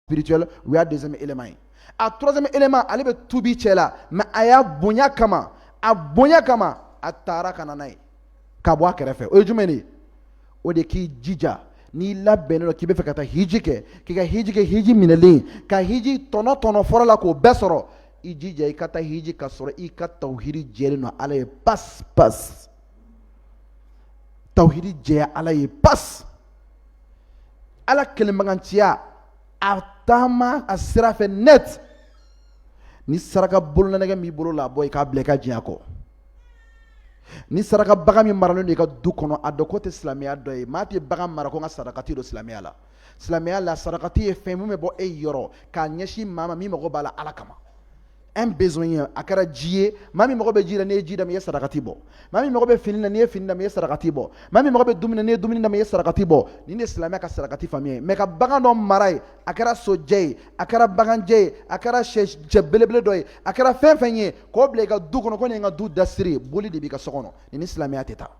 spirituel o y'a deuxième élément ye a troisième élément ale bɛ tubi cɛ la mais a y'a bonya kama a bonya kama a taara ka na n'a ye ka bɔ a kɛrɛfɛ o ye jumɛn de ye o de k'i jija n'i labɛnnen don k'i bɛ fɛ ka taa hiji kɛ k'i ka hiji kɛ hiji minɛlen ka hiji tɔnɔ tɔnɔ fɔra a la k'o bɛɛ sɔrɔ i jija i ka taa hiji ka sɔrɔ i ka tawuhiri jɛlen don ala ye pas pas tawuhiri jɛya ala ye pas ala kelenbaganciya a taama a sira fɛ net ni saraka bololanɛgɛ b'i bolo la bɔ i k'a bila i ka diɲɛ kɔ ni saraka bagan min maralen don i ka du kɔnɔ a dɔn k'o tɛ silamɛya dɔ ye maa tɛ bagan mara ko n ka sarakati don silamɛya la silamɛya la sarakati ye fɛn min bɛ bɔ e yɔrɔ k'a ɲɛsin maa ma min mago b'a la ala kama un besoin ye a kɛra ji ye maa min mago bɛ ji la n'i ye ji d'a ma i ye sarakati bɔ maa min mago bɛ fini na n'i ye fini d'a ma i ye sarakati bɔ maa min mago bɛ dumuni na n'i ye dumuni d'a ma i ye sarakati bɔ nin de ye silamɛya ka sarakati faamuya ye mais ka bagan dɔ mara yen a kɛra sojɛ ye a kɛra baganjɛ ye a kɛra sɛ belebele dɔ ye a kɛra fɛn fɛn ye k'o bila i ka du kɔnɔ ko nin ye n ka du dasiri boli de b'i ka so kɔnɔ nin ni silamɛya tɛ taa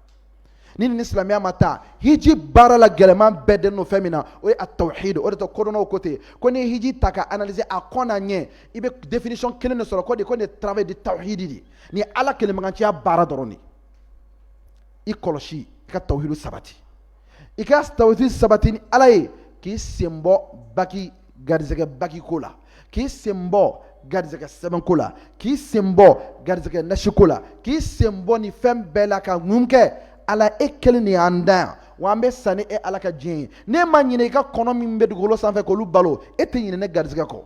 nin ni silamɛya ma taa hiji baara la gɛlɛman bɛɛ dennen don fɛn min na o ye a tawhid o de y'a to kodɔnnaw ko ten ko n'i ye hiji ta ka analyser a kɔn n'a ɲɛ i bɛ définition kelen de sɔrɔ ko di ko nin ye travail de tawhid de ye nin ye ala kelenbaganciya baara dɔrɔn de ye i kɔlɔsi i ka tawhid sabati i ka tawhid sabati ni ala ye k'i sen bɔ baki garisɛgɛ bakiko la k'i sen bɔ garisɛgɛ sɛbɛnko la k'i sen bɔ garisɛgɛ nasiko la k'i sen bɔ nin fɛn bɛɛ la ka mun kɛ ala e kelen de y'an da yan wa an bɛ sa ni e ala ka diɲɛ ye n'e ma ɲinɛ i ka kɔnɔ min bɛ dugukolo sanfɛ k'olu balo e tɛ ɲinɛ ne garisɛgɛ kɔ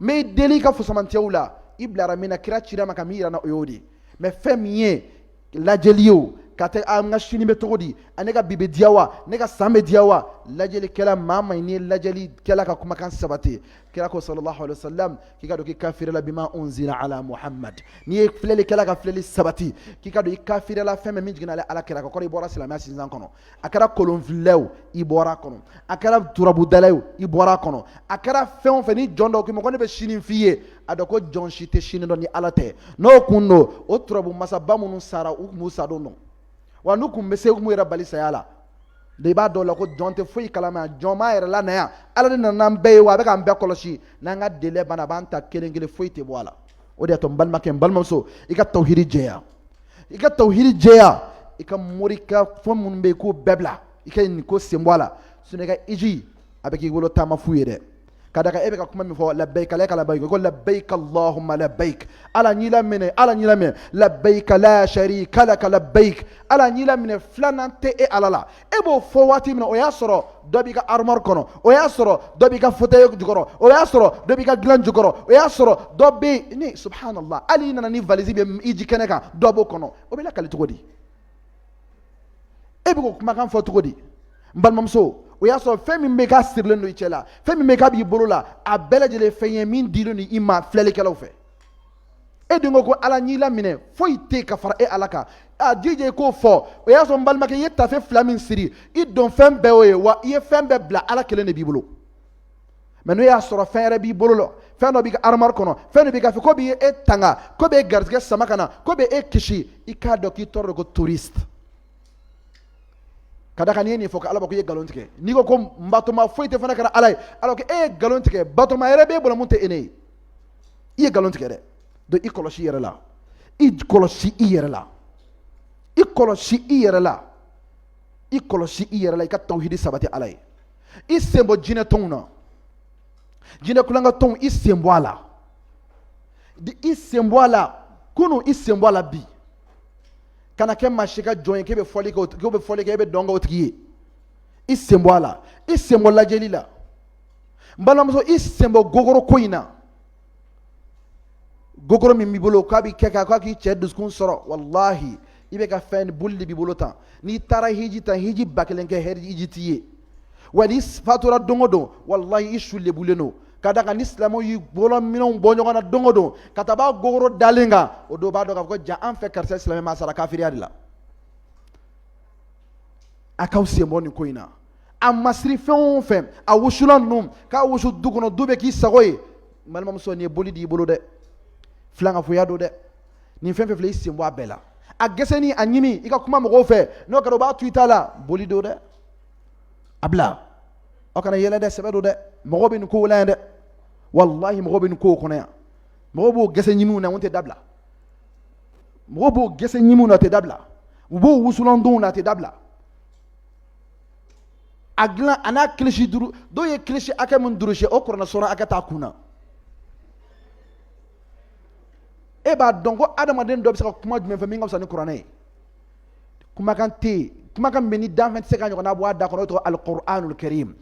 n bɛ i deli i ka fusamantiyaw la i bilara min na kira cira ma ka min yira na o y'o de ye mais fɛn min ye lajɛli ye o ka tɛ a n ka sini bɛ cogo di a ne ka bi bɛ diya wa ne ka san bɛ diya wa lajɛlikɛla maa ma n'i ye lajɛlikɛla ka kumakan sabati kira ko sallallahu alaihi wasallam k'i k'a dɔn k'i kafiriyala bima unzila ala muhammad n'i ye filɛlikɛla ka filɛli sabati k'i k'a dɔn i kafiriyala fɛn min jiginna ala kira kan a kɔrɔ i bɔra silamɛya sinzan kɔnɔ a kɛra kolonfilila ye o i bɔra a kɔnɔ a kɛra turabudala ye o i bɔra a kɔnɔ a kɛra fɛn o fɛn ni jɔn dɔ k'i ma ko ne bɛ sini f'i ye a dɔn ko jɔn si tɛ sini dɔn ni ala tɛ n'o kun don o turabu masaba minnu sara u tun b'u sa don dɔn wa n'u tun bɛ se u tun b'u yɛrɛ bali saya la de i b'a dɔn o la ko jɔn tɛ foyi kalama jɔn m'a yɛrɛ lana yan ala de nana n'an bɛɛ ye wa a bɛ k'an bɛɛ kɔlɔsi n'an ka délai banna a b'an ta kelen kelen foyi tɛ bɔ a la o de y'a to n balimakɛ n balimamuso i ka tawhidi jɛya i ka tawhidi jɛya i ka mori ka fɛn minnu bɛ yen k'o bɛɛ bila i ka nin ko sen bɔ a la sinon i ka hiji a bɛ k'i bolo taama fu ye dɛ ka da kan e bɛ ka kuma min fɔ labayika laka labayika ko labayika allahumma labayik ala n y'i laminɛ ala n y'i laminɛ labayika la sharika laka labayik ala n y'i laminɛ filanan tɛ e ala la e b'o fɔ waati min na o y'a sɔrɔ dɔ b'i ka armoire kɔnɔ o y'a sɔrɔ dɔ b'i ka fauteuil jukɔrɔ o y'a sɔrɔ dɔ b'i ka dilan jukɔrɔ o y'a sɔrɔ dɔ bɛ ni subhanallah hali i nana ni valise bɛ hiji kɛnɛ kan dɔ b'o kɔnɔ o bɛ lakali cogo di e bɛ k'o kumakan fɔ cogo di n balimamuso o y'a sɔrɔ fɛn min bɛ k'a sirilen don i cɛ la fɛn min bɛ k'a b'i bolo la a bɛɛ lajɛlen fɛn ye min dilen don i ma filɛlikɛlaw fɛ e dun ko ko ala n y'i laminɛ foyi tɛ ka fara e ala kan a jija i k'o fɔ o y'a sɔrɔ n balimakɛ i ye tafe fila min siri i donfɛn bɛɛ y'o ye wa i ye fɛn bɛɛ bila ala kelen de b'i bolo mais n'o y'a sɔrɔ fɛn yɛrɛ b'i bolo la fɛn dɔ b'i ka armoire kɔnɔ fɛn dɔ b'i ka fɛ k'o b'e tanga k'o b'e garijɛgɛ sama ka na k'o bɛ e kisi i k'a dɔn k'i tɔgɔ de ko touriste ka da kan n'i ye nin fɔ ko ala ko i ye nkalon tigɛ n'i ko ko n batoma foyi tɛ fo n'a kɛra ala ye ala ko e ye nkalon tigɛ batoma yɛrɛ b'e bolo min tɛ ne ye i ye nkalon tigɛ dɛ donc i kɔlɔsi i yɛrɛ la i kɔlɔsi i yɛrɛ la i kɔlɔsi i yɛrɛ la i kɔlɔsi i yɛrɛ la i ka tawhidi sabati ala ye i sen bɔ jinɛ tɔnw na jinɛ kulonkɛ tɔnw i sen bɔ a la i sen bɔ a la kunun i sen bɔ a la bi kana kɛ maa si ka jɔn ye k'e bɛ fɔli kɛ e bɛ dɔn kɛ o tigi ye i sen bɔ a la i sen bɔ lajɛli la balimamuso i sen bɔ gogoro ko in na gogoro min b'i bolo k'a bɛ kɛ k'a k'a k'i cɛ dusukun sɔrɔ walahi i bɛ ka fɛn boli de b'i bolo tan n'i taara hiji tan hiji ba kelen kɛ hiji t'i ye wa n'i fatura don o don walahi i su lebulen don ka da kan ni silamɛw y'i bolo minɛnw bɔ ɲɔgɔn na don o don ka taa b'a gogoro dalen kan o don b'a dɔn k'a fɔ ko jaa an fɛ karisa silamɛ ma sara kafiriya de la a k'aw sen bɔ nin ko in na a masiri fɛn o fɛn a wusulan ninnu k'a wusu du kɔnɔ du bɛ k'i sago ye n balimamuso nin ye boli d'i bolo dɛ filankafoya don dɛ nin fɛn fɛn filɛ i sen bɔ a bɛɛ la a gɛsɛni a ɲimi i ka kuma mɔgɔw fɛ n'o kɛra o b'a to i ta la boli don dɛ a bila aw kana yɛlɛ dɛ sɛbɛ don dɛ mɔgɔw bɛ nin kow la yan dɛ walahi mɔgɔw bɛ nin kow kɔnɔ yan mɔgɔw b'o gɛsɛ ɲimiw na o tɛ dabila mɔgɔw b'o gɛsɛ ɲimiw na tɛ dabila u b'o wusulandonw na tɛ dabila a dilan a n'a kilisi duuru dɔw ye kilisi hakɛ min durusi o kuranɛ suran hakɛ t'a kun na e b'a dɔn ko adamaden dɔ bɛ se ka kuma jumɛn fɛ min ka fisa ni kuranɛ ye kumakan tɛ yen kumakan bɛ ni danfɛn tɛ se k'a ɲɔgɔnna bɔ a da kɔnɔ o tɔgɔ alikuranul karim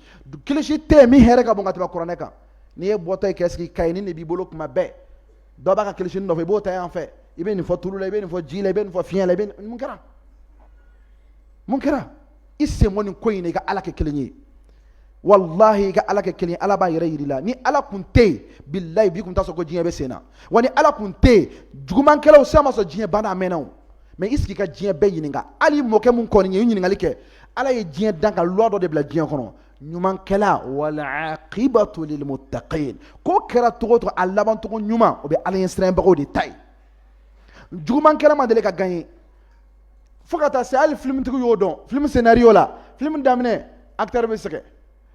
kilisi tɛ yen min hɛrɛ ka bon ka tɛmɛ kuranɛ kan n'i ye bɔtɔ ye kɛ sigi kaye ni de b'i bolo kuma bɛɛ dɔ b'a ka kilisini nɔfɛ i b'o ta yan fɛ i bɛ nin fɔ tulu la i bɛ nin fɔ ji la i bɛ nin fɔ fiɲɛ la i bɛ mun kɛra mun kɛra i sen bɔ nin ko in na i ka ala kɛ kelen ye walahi i ka ala kɛ kelen ye ala b'a yɛrɛ yir'i la ni ala kun tɛ yen bilayi bi kun t'a sɔrɔ ko diɲɛ bɛ sen na wa ni ala kun tɛ yen jugumankɛlaw sisan ma sɔrɔ diɲɛ banna a mɛnna o mais i sigi ka diɲɛ bɛɛ ɲininka hali mɔkɛ mun kɔni ye i ɲininkali kɛ ala ye diɲɛ dan ka loi dɔ de bila diɲɛ kɔnɔ ɲumankɛla walaqibatu lilmuttaqin ko kɛra cogo o cogo a labancogo ɲuman o bɛ ala ɲɛ siranbagaw de ta ye jugumankɛla ma deli ka gagner fo ka taa se hali filimitigiw y'o dɔn film scénario la film daminɛ acteur bɛ sɛgɛn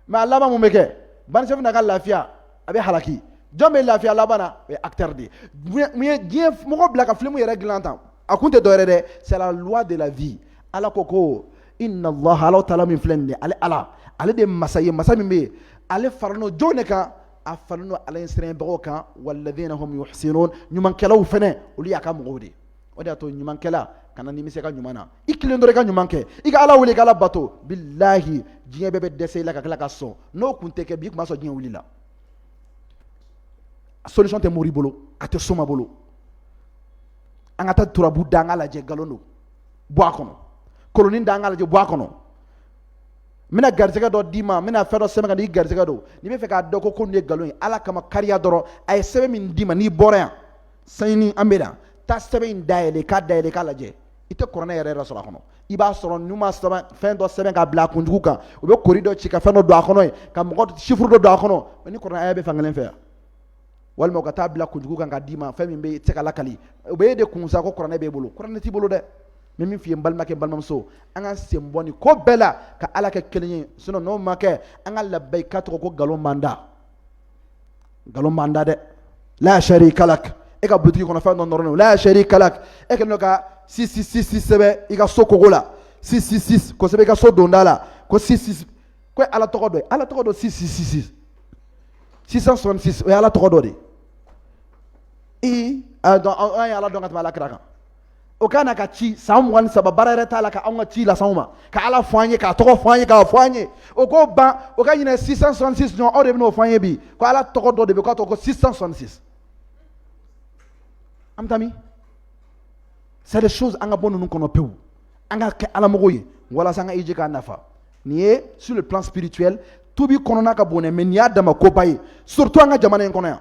mais a laban mun bɛ kɛ bandit chef na ka lafiya a bɛ halaki jɔn bɛ lafiya laban na o ye acteur de ye mun ye diɲɛ mɔgɔ bila ka film yɛrɛ dilan tan a kun tɛ dɔwɛrɛ dɛ c'est la loi de la vie ala ko ko innallaha ala taala min filɛ nin ye ala ale de ye masa ye masa min bɛ yen ale faralen don jɔn de kan a faralen don ala ɲɛ siranbagaw kan walladhina hum muhsinun ɲumankɛlaw fana olu y'a ka mɔgɔw de ye o de y'a to ɲumankɛla kana nimisa ka ɲuman na i kelen dɔrɔn i ka ɲuman kɛ i ka ala wele k' ala bato bilahi diɲɛ bɛɛ bɛ dɛsɛ i la ka tila ka sɔn n'o kun tɛ kɛ bi i kun b'a sɔrɔ diɲɛ wilila a solution tɛ mori bolo a tɛ soma bolo an ka taa turabu da an k'a lajɛ nkalon don bɔ a kɔnɔ kolonin da an k'a lajɛ bɔ a kɔnɔ n bɛna garisɛgɛ dɔ d'i ma n bɛna fɛn dɔ sɛbɛn ka n'i garisɛgɛ don n'i bɛ fɛ k'a dɔn ko ko nin ye nkalon ye ala kama kariya dɔrɔn a ye sɛbɛn min d'i ma n'i bɔra yan sanni an bɛ na taa sɛbɛn in dayɛlɛ k'a dayɛlɛ k'a lajɛ i tɛ kuranɛ yɛrɛ yɛrɛ sɔrɔ a kɔnɔ i b'a sɔrɔ n'u ma sɛbɛn fɛn dɔ sɛbɛn ka bila a kunjugu kan u bɛ kori dɔ ci ka fɛn dɔ don a kɔnɔ ye ka mɔgɔ chiffre dɔ don a kɔnɔ ni kuranɛ aya bɛ fankelen fɛ yan walima ka taa bila kunjugu kan ka d'i ma fɛn min bɛ se ka lakali o bɛ e de kun sa ko kuranɛ b'e bolo kuranɛ t'i bolo dɛ n bɛ min f'i ye n balimakɛ n balimamuso an ka sen bɔ nin ko bɛɛ la ka ala kɛ kelen ye sinon n'o ma kɛ an ka labayi ka tɔgɔ ko nkalon man da nkalon man da dɛ la sharika lak e ka butigi kɔnɔ fɛn dɔ nɔrɔlen don la sharika lak e kɛlen don ka six cent soixante-six sɛbɛn i ka so kogo la six cent soixante-six k'o sɛbɛn i ka so donda la ko soixante-six ko ala tɔgɔ dɔ ye ala tɔgɔ dɔ six cent soixante-six six cent soixante-six o ye ala tɔgɔ dɔ de ye an ye ala dɔn ka tɛmɛ ala kira kan o ka na ka ci san mugan ni saba baara yɛrɛ t'a la ka anw ka ci lase anw ma ka ala fɔ an ye k'a tɔgɔ fɔ an ye k'a fɔ an ye o k'o ban o ka ɲinɛ six cent soixante-six ɲɔgɔn aw de bɛn'o fɔ an ye bi ko ala tɔgɔ dɔ de bɛ k'a tɔgɔ ko six cent soixante-six an bɛ taa min c'est des choses an ka bɔ ninnu kɔnɔ pewu an ka kɛ alamɔgɔw ye walasa an ka hiji k'a nafa Nin ye sur le plan spirituel tuubi kɔnɔna ka bon dɛ mais nin y'a dama koba ye surtout an ka jamana in kɔnɔ yan